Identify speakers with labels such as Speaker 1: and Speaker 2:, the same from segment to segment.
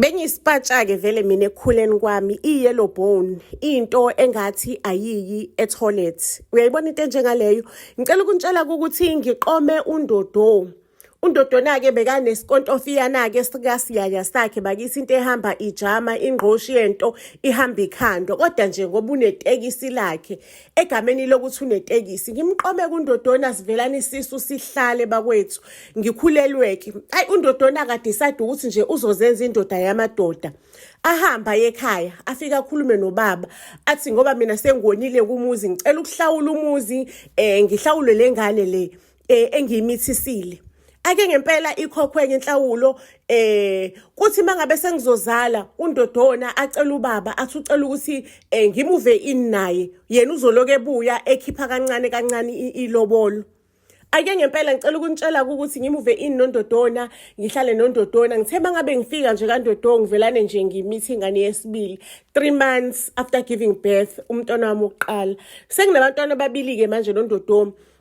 Speaker 1: Bengiyisipatsha-ke vele mina ekukhuleni kwami i-yellow bone into engathi ayiyi etoilet uyayibona into enjengaleyo ngicela ukuntshela ukuthi ngiqome undodo undodona-ke bekanesikontofiana-ke sikasiyaya sakhe bakithi into ehamba ijama ingqoshi yento ihamba ikhando kodwa nje ngoba unetekisi lakhe egameni lokuthi unetekisi ngimqome kundodona sivelana isisu sihlale bakwethu ngikhulelweke ayi undodona akadecide ukuthi nje uzozenza indoda yamadoda ahamba yekhaya afike akhulume nobaba athi ngoba mina sengonile kumuzi ngicela ukuhlawula umuzi eh ngihlawule lengane le eh engiyimithisile ake ngempela ikhokhwe ngenhlawulo eh kuthi mangabe sengizozala undodona acela ubaba athi ucela ukuthi eh, ngimuve in naye yena uzoloke ebuya ekhipha kancane kancane ilobolo ake ngempela ngicela ukunitshela ukuthi ngimuve in nondodona ngihlale nondodona ngithe mangabe ngifika nje kandodona ngivelane nje ngimithi ingane yesibili 3 months after giving birth umntwana wami oqala senginabantwana ababili ke manje nondodona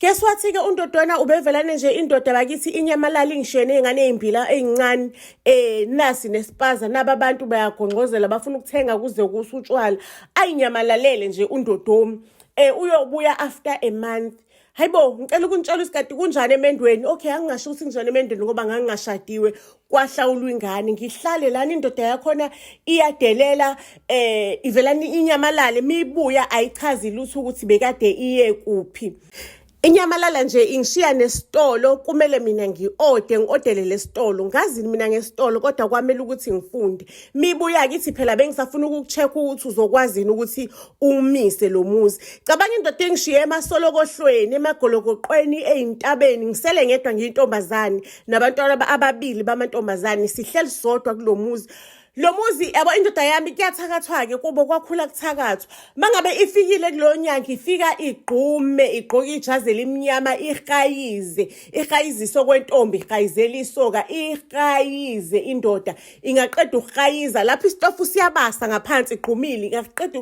Speaker 1: Guess what ke uNtotwana ubevelane nje indoda bakithi inyamalala ingishene ingane ezimbila ezincane eh nasi nespaza naba abantu bayagongqozela bafuna ukuthenga kuze kusutshwala ayinyamalale nje uNdodomi eh uyobuya after a month hayibo ngicela ukuntshela isikati kunjani emendweni okay angingasho ukuthi kunjani emendweni ngoba ngangingashadiwe kwahlawulwa ingane ngihlale lana indoda yakhona iyadelela eh ivelani inyamalale mibuya ayichazi lutho ukuthi bekade iye kuphi Inyamalala nje ingishiya nesitolo kumele mina ngiode ngiodele lesitolo ngazini mina ngesitolo kodwa kwamele ukuthi ngifunde mibuya kithi phela bengisafuna ukucheck ukuthi uzokwazini ukuthi umise lo muzi cabanga indoda engishiye emasolo kohlweni emagolokoqweni ezintabeni ngisele ngedwa ngiyintombazane nabantwana ababili bamantombazane sihleli sodwa kulo muzi lo muzi yabo indoda yami kuyathakathwa-ke kubo kwakhula kuthakathwa uma ngabe ifikile kulo nyanga ifika igqume igqoke ijazi elimnyama ihayize ihayizise okwentombi ihayizela isoka ihayize indoda ingaqeda ukuhayiza lapho isitofu siyabasa ngaphansi igqumile ingaqeda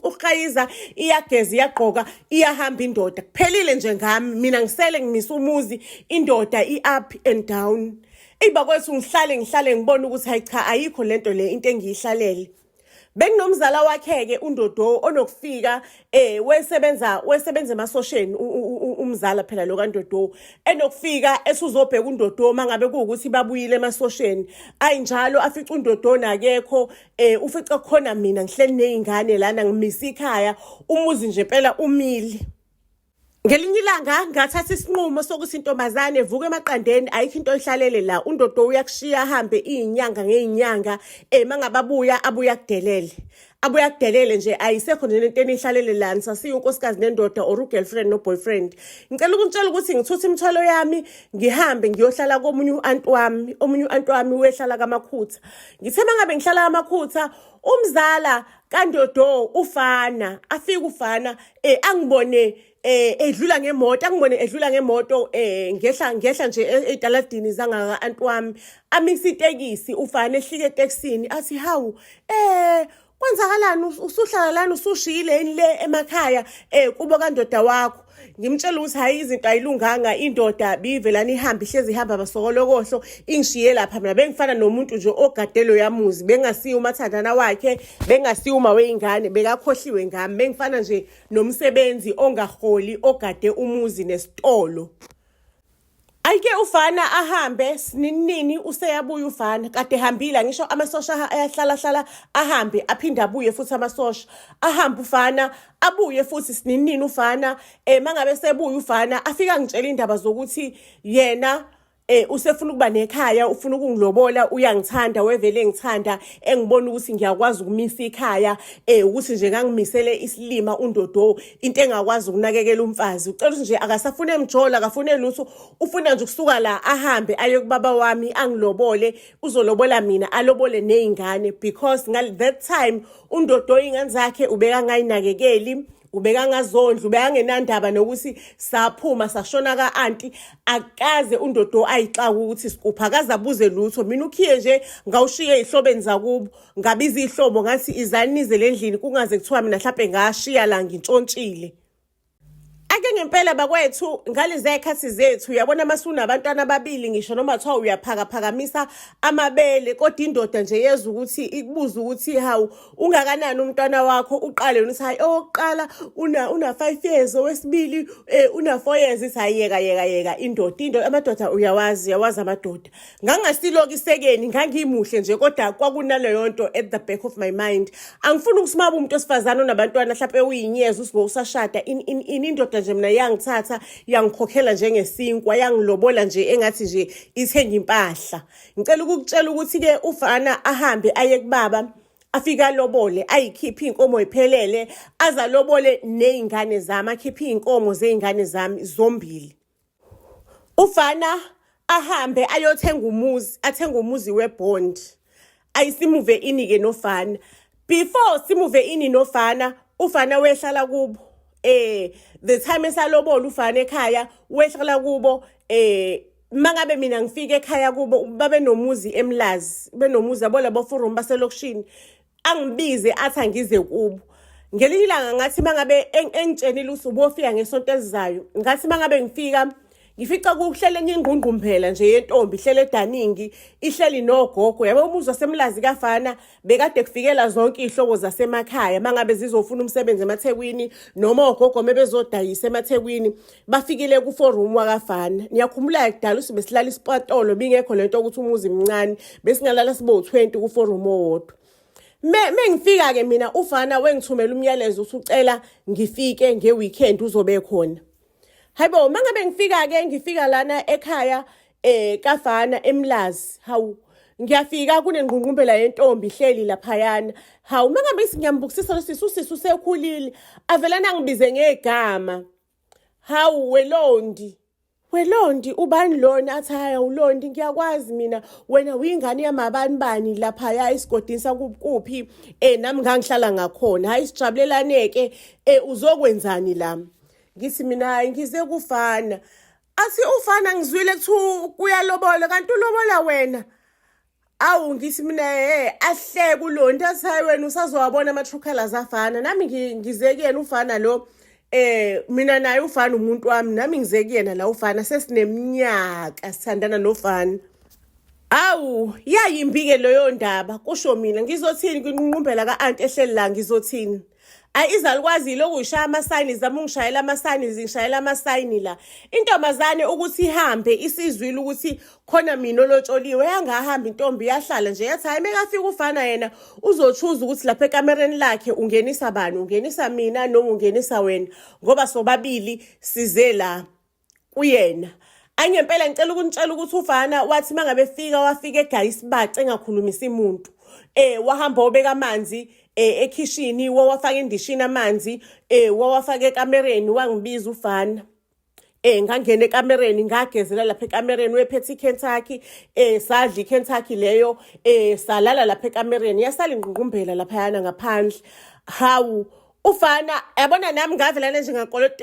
Speaker 1: ukuhayiza iyageza iyagqoka iyahamba indoda kuphelile nje ngami mina ngisele ngimisa umuzi indoda i-up and down eyi bakwethu ngihlale ngihlale ngibone ukuthi hayi cha ayikho lento le into engiyihlalele bekunomzala wakhe-ke undodo onokufika eh wesebenza wesebenza emasosheni umzala phela lo kandodo enokufika esuzobheka undodo uma ngabe kuwukuthi babuyile emasosheni ayi njalo afica undodo nakekho eh ufica khona mina ngihleli nezingane lana ngimisa ikhaya umuzi nje phela umile ngelinye ilanga ngathatha isinqumo sokuthi intombazane evuka emaqandeni ayikho into oyihlalele la undodo uyakushiya ahambe iyinyanga ngeyinyanga ema ngababuya abuya kudelele abuye akudelele nje ayisekho nje lento enihlalele lani sasiye unkosikazi nendoda or ugirlfriend noboyfriend ngicela ukuntshela ukuthi ngithutha imithwalo yami ngihambe ngiyohlala komunye u-anti wami omunye u-anti wami uyehlala kamakhutha ngithe uma ngabe ngihlala kamakhutha umzala kandodo ufana afike ufana eh angibone eh edlula ngemoto angibone edlula ngemoto eh ngehla ngehla nje e-, edaladini zangaka anti wami amisa itekisi ufana ehlike etekisini athi hawu eh kwenzakalani usuhlala lana usushiyile yini le emakhaya eh kubo kandoda wakho ngimtshela ukuthi hayi izinto ayilunganga indoda bivelana ihambe ihlezi ihamba abasokolokohlo ingishiye lapha mina bengifana nomuntu nje ogadelo yamuzi bengasiye umathandana wakhe bengasiwo uma weyingane bekakhohliwe ngami bengifana nje nomsebenzi ongaholi ogade umuzi nesitolo ayike ufana ahambe sininini useyabuya ufana kade hambile ngisho amasosha ayahlala hlala ahambe aphinde abuye futhi amasosha ahambe ufana abuye futhi sininini ufana eh mangabe sebuya ufana afika ngitshela indaba zokuthi yena eh usefuna ukuba nekhaya ufuna ukungilobola uyangithanda wevele ngithanda engibona ukuthi ngiyakwazi ukumisa ikhaya eh ukuthi nje ngangimisele isilima undodo into engakwazi ukunakekela umfazi ucela ukuthi nje akasafune emjola akafune lutho ufuna nje ukusuka la ahambe aye kubaba wami angilobole uzolobola mina alobole nezingane because ngal that time undodo ingane zakhe ubeka ngayinakekeli ubekangazondla ubekangenandaba nokuthi saphuma sashona ka-anti akaze undodo ayixaka ukuthi sikupha akaze abuze lutho mina ukhiye nje ngawushiye ey'hlobeni zakubo ngabiza iy'hlobo ngathi izani nize le ndlini kungaze kuthiwa mina mhlawumpe ngashiya la ngintshontshile ake ngempela bakwethu ngaleziya y'khathi zethu uyabona uma sunabantwana ababili ngisho noma kuthiwa uyaphakaphakamisa amabele kodwa indoda nje yeza ukuthi ikubuze ukuthi hawu ungakanani umntwana wakho uqale yona hayi owokuqala una una 5 years owesibili eh, una 4 years isayi yeka yeka yeka indoda into amadoda uyawazi uyawazi amadoda ngangasiloki sekeni ngangimuhle nje kodwa kwakunaleyo nto at the back of my mind angifuni ukusimaba umuntu osifazana onabantwana mhlawumbe uyinyeza usibo usashada in in, in indoda nje mina yangithatha yangikhokhela njengesinkwa yangilobola nje engathi nje ithenga impahla ngicela ukukutshela ukuthi-ke ufana ahambe aye kubaba afike alobole ayikhiphe iy'nkomo iphelele aze alobole ney'ngane zami akhiphe iy'nkomo zey'ngane zami zombili ufana ahambe ayothenga umuzi athenga umuzi webond ayisimuve ini-ke nofana before simuve ini nofana ufana wehlala kubo eh the time esalobola ufana ekhaya wehlala kubo eh mangabe mina ngifike ekhaya kubo babenomuzi emlazi benomuzi yabo labo forum baselokishini angibize athi angize kubo ngelinye ilanga ngathi mangabe engitshenile ukuthi ubofika ngesonto elizayo ngathi mangabe ngifika ngifica kuhlele enye ingqungqumbhela nje yentombi ihlele edaningi ihleli nogogo yabo umuzi wasemlazi kafana bekade kufikela zonke iy'hlobo zasemakhaya mangabe zizofuna umsebenzi emathekwini noma ogogo mebezodayisa emathekwini bafikile kuforum wakafana niyakhumbula kudala usibe silala isipatolo bingekho lento ukuthi umuzi mncane besingalala sibe u-20 kuforum owodwa mengifika ke mina ufana wengithumela umyalezo uthi ucela ngifike ngeweekend uzobe khona hayibo mangabe ngifika ke ngifika lana ekhaya Eh kafana emlazi hawu ngiyafika kunengqungqumbela yentombi ihleli laphayana hawu uma ngabe ngiyambukisisa lo sisi usisi usekhulile avelana angibize ngegama hawu welondi welondi ubani lona athi haya ulondi ngiyakwazi mina wena uyingane yamabani bani laphaya esigodini sakuphi um eh, nami ngangihlala ngakhona hhayi sijabulelane-ke um eh, uzokwenzani la ngithi mina ngize kufana athi ufana ngizwile kuthiwa uyalobola kanti ulobola wena awu ngithi mina he ahleke ulo nto athayi wena usazowabona ama-true colors afana nami ngize kuyena ufana lo eh mina naye ufana umuntu wami nami ngize kuyena la ufana sesineminyaka sithandana nofana awu yayimbi-ke leyo ndaba kusho mina ngizothini kwinqunqumbela ka-anti ehleli la ngizothini ayi izalukwazi yilokhu ngishaya amasayini zama ungishayela amasayini zingishayela amasayini la intombazane ukuthi ihambe isizwile ukuthi khona mina olotsholiwe yangahambi intombi yahlala nje yathi hayi mekafika ufana yena uzotshuza ukuthi lapha ekamereni lakhe ungenisa bani ungenisa mina noma ungenisa wena ngoba sobabili size la kuyena ayi ngempela ngicela ukunitshela ukuthi ufana wathi uma ngabe fika wafika egaya isibace engakhulumisi muntu um wahamba obeka amanzi eh ekhishini wawafaka endishini amanzi eh wawafaka ekamereni wangibiza ufana eh ngangena ekamereni ngagezela lapha ekamereni wephethe iKentucky eh sadla iKentucky leyo eh salala lapha ekamereni yasala ingqungqumbela lapha yana ngaphandle hawu ufana yabona nami ngavelana nje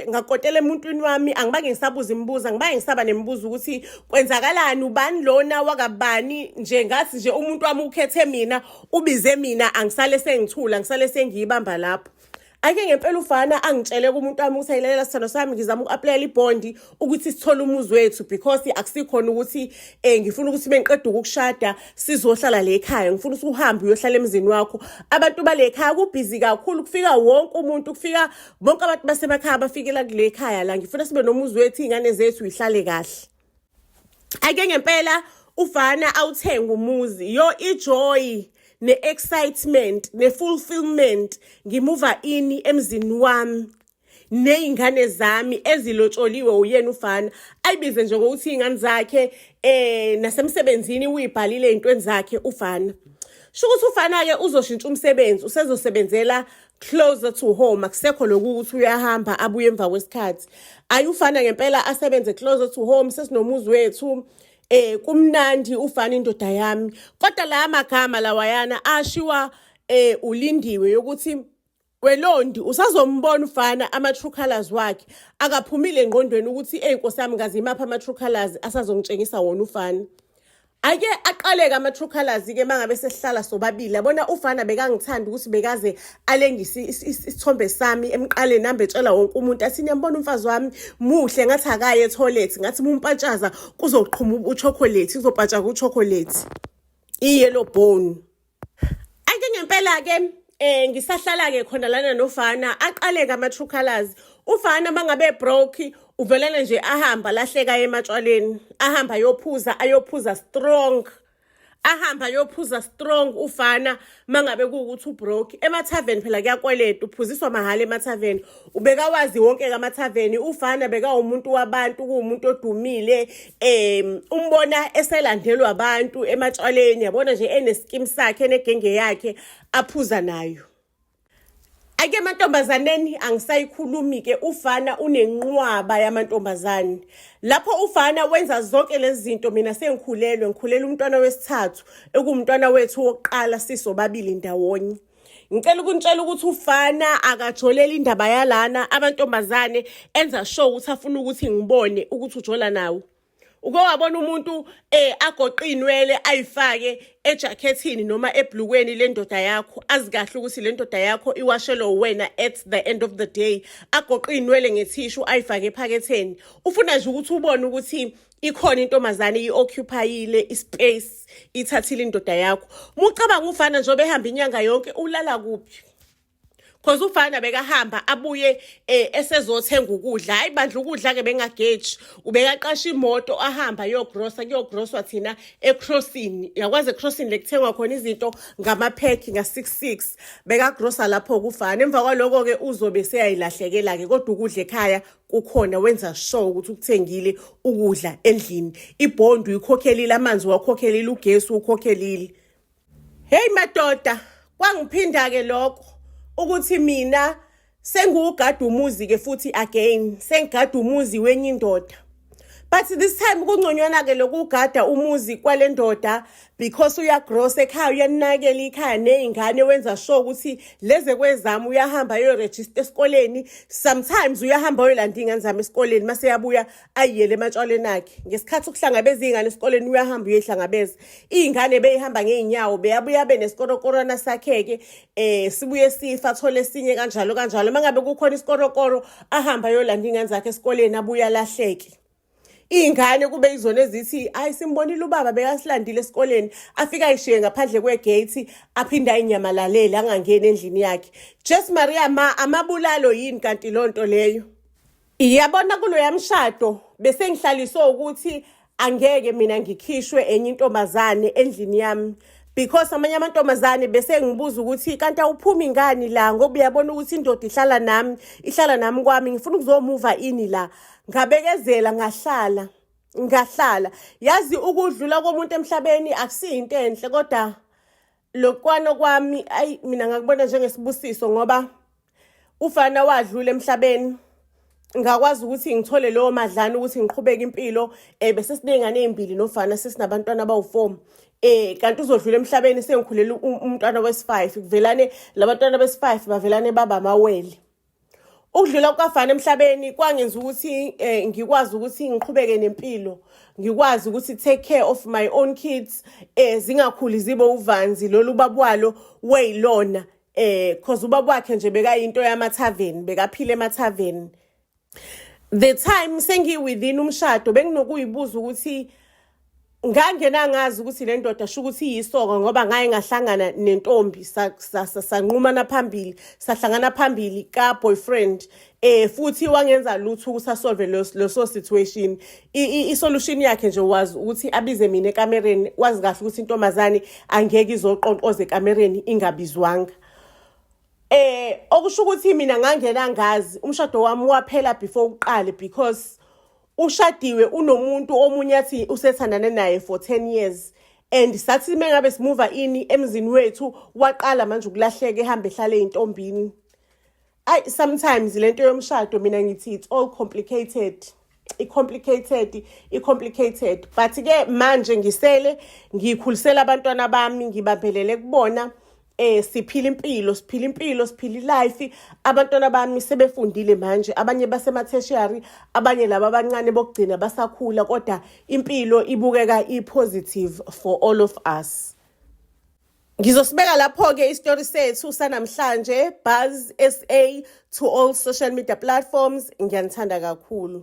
Speaker 1: ngakotela emuntwini wami angibange ngisabuza imibuzo angibange ngisaba nemibuzo ukuthi kwenzakalani ubani lona wakabani nje ngathi nje umuntu wami ukhethe mina ubize mina angisale sengithula ngisale sengiyibamba lapho ake ngempela ufana angitshele kumuntu wami ukuthi ayilalela sithando sami ngizama uku-aplayela ibhondi ukuthi sithole umuzi wethu because akusikhona ukuthi eh ngifuna ukuthi bengiqeda ukukushada sizohlala le ekhaya ngifuna ukuthi uhambe uyohlala emzini wakho abantu bale ekhaya kubhizi kakhulu kufika wonke umuntu kufika bonke abantu basemakhaya bafikela kule ekhaya la ngifuna sibe nomuzi wethu izingane zethu yihlale kahle ake ngempela ufana awuthenga umuzi yo ijoy ne-excitement ne-fulfillment ngimuva ini emzini wami ney'ngane zami ezilotsholiwe uyena ufana ayibize nje ngokuthi iy'ngane zakhe um nasemsebenzini uyibhalile ey'ntweni zakhe ufana sho ukuthi ufana-ke uzoshintsha umsebenzi usezosebenzela closer to home akusekho lokhu ukuthi uyahamba abuye emva kwesikhathi ayi ufana ngempela asebenze closer to home sesinomuzi wethu eh kumnandi ufana indoda yami kodwa la magama lawayana ashiwa eh ulindiwe yokuthi welondi usazombona ufana ama-true colors wakhe akaphumile engqondweni ukuthi eyi nkosi yami ngaze imaphi ama-true colors asazongitshengisa wona ufana ake aqaleke ama-true colors-ke uma ngabe sesihlala sobabili yabona ufana bekangithanda ukuthi bekaze alengise isithombe sami emqaleni hambe etshela wonke umuntu athi niyambona umfazi wami muhle ngathi akaye ethoyilethi ngathi mumpatshaza kuzoqhuma uchocolate kuzopatsha kuchocolate iye lo bone Ake ngempela ke eh ngisahlala ke khona lana nofana aqale ka true colors ufana mangabe broke uvelana nje ahamba lahleka ematshwaleni ahamba yophuza ayophuza strong ahamba yophuza strong ufana mangabe kuwukuthi ubroke emathaveni phela kuyakweleta uphuziswa mahhala emathaveni ubekawazi wonke kamathaveni ufana bekawumuntu wabantu kuwumuntu odumile um umbona eselandelwa abantu ematshwaleni yabona nje eneskim sakhe enegenge yakhe aphuza nayo ake emantombazaneni angisayikhulumi-ke ufana unenqwaba yamantombazane lapho ufana wenza zonke lezi zinto mina sengikhulelwe ngikhulele umntwana wesithathu ekuwumntwana wethu wokuqala sisobabili ndawonye ngicela ukuntshela ukuthi ufana akajoleli indaba yalana abantombazane enza sure ukuthi afuna ukuthi ngibone ukuthi ujola nawo uke wabona umuntu um eh, agoqe iy'nwele ayifake ejakhethini noma ebhlukweni le ndoda yakho azi kahle ukuthi le ndoda yakho iwashelwe wena at the end of the day agoqe iy'nwele ngethishu ayifake ephaketheni ufuna nje ukuthi ubone ukuthi ikhona intombazane i-occupyile ispace ithathile indoda yakho mucabanga ufana njengoba ehamba inyanga yonke ulala kuphi cause ufana bekahamba abuye eh, esezothenga ukudla hayi bandla ukudla ke bengageji ubekaqasha imoto ahamba yogrosa kuyogrosa thina ecrossing yakwazi ecrossing lekuthengwa khona izinto ngamaphekhi nga66 bekagrosa lapho kufana emva kwaloko ke uzobe seyayilahlekela ke kodwa ukudla ekhaya kukhona wenza sure ukuthi ukuthengile ukudla endlini ibond uyikhokhelile amanzi wakhokhelile ugesi ukhokhelile hey madoda kwangiphinda ke lokho ukuthi mina sengiwugada umuzi ke futhi again sengigada umuzi wenye indoda but this time kungconywana ke lokugada umuzi kwalendoda because uyagrosa ekhaya uyanakela ikhaya nezingane wenza sure ukuthi leze kwezami uyahamba ayoregister esikoleni sometimes uyahamba oyolanda ingane zami esikoleni mase yabuya ayiyele ematshwaleni akhe ngesikhathi ukuhlangabeza izingane esikoleni uyahamba uyehlangabeza izingane beyihamba ngeenyawo beyabuya benesikorokorona sakheke eh sibuye sifa athole esinye kanjalo kanjalo mangabe kukhona isikorokoro ahamba ayolanda ingane zakhe esikoleni abuya lahleke iy'ngane kube izona ezithi ayi simbonile ubaba bekasilandile esikoleni afike ayishiye ngaphandle kwegate aphinde ayinyamalale angangeni endlini yakhe jes maria ma amabulalo yini kanti loo nto leyo iyabona kuloya mshado besengihlaliswe ukuthi angeke mina ngikhishwe enye intombazane endlini yami because amanye amantombazane bese ngibuza ukuthi kanti awuphumi ngani la ngoba uyabona ukuthi indoda ihlala nami ihlala nami kwami ngifuna ukuzomuva ini la ngabekezela ngahlala ngahlala yazi ukudlula komuntu emhlabeni akusiyinto enhle kodwa lokwano kwami ayi mina ngakubona njengesibusiso ngoba ufana wadlula emhlabeni ngakwazi ukuthi ngithole lowo madlana ukuthi ngiqhubeke impilo eh bese sinengane ezimbili nofana sesinabantwana abawu4 eh kanti uzodlula emhlabeni sengikhulela umntwana wesi5 kuvelane labantwana besi5 bavelane baba mawele ukudlula kukafana emhlabeni kwangenza ukuthi eh, ngikwazi ukuthi ngiqhubeke nempilo ngikwazi ukuthi take care of my own kids eh, zingakhuli zibe uvanzi lolu babwalo weyilona eh cause ubaba wakhe nje bekayinto yamathaveni bekaphile emathaveni the time sengi within umshado benginokuyibuza ukuthi ngangena ngazi ukuthi le ndoda sho ukuthi iyisoka ngoba ngaye ngahlangana nentombi sanqumana phambili sahlangana phambili ka-boyfriend eh futhi wangenza lutho ukuthi asolve leso situation i-solution yakhe nje wazi ukuthi abize mina ekamereni wazi kahle ukuthi intombazane angeke izoqonqoza ekamereni ingabizwanga Eh okusho ukuthi mina ngangena ngazi umshado wami waphela before uqale because ushadiwe unomuntu omunye athi usethandane naye for 10 years and sathi mengabe simuva ini emzini wethu waqala manje ukulahleka ehambe ehlale intombini ay sometimes lento yomshado mina ngithi it's all complicated i-complicated i-complicated but ke manje ngisele ngikhulisela abantwana bami ngibambelele kubona eh siphila impilo siphila impilo siphila ilife abantwana bami sebefundile manje abanye basema tertiary abanye laba abancane bokugcina basakhula kodwa impilo ibukeka ipositive for all of us Ngizosibeka lapho-ke isitori sethu sanamhlanje Buzz SA to all social media platforms. Ngiyanithanda kakhulu.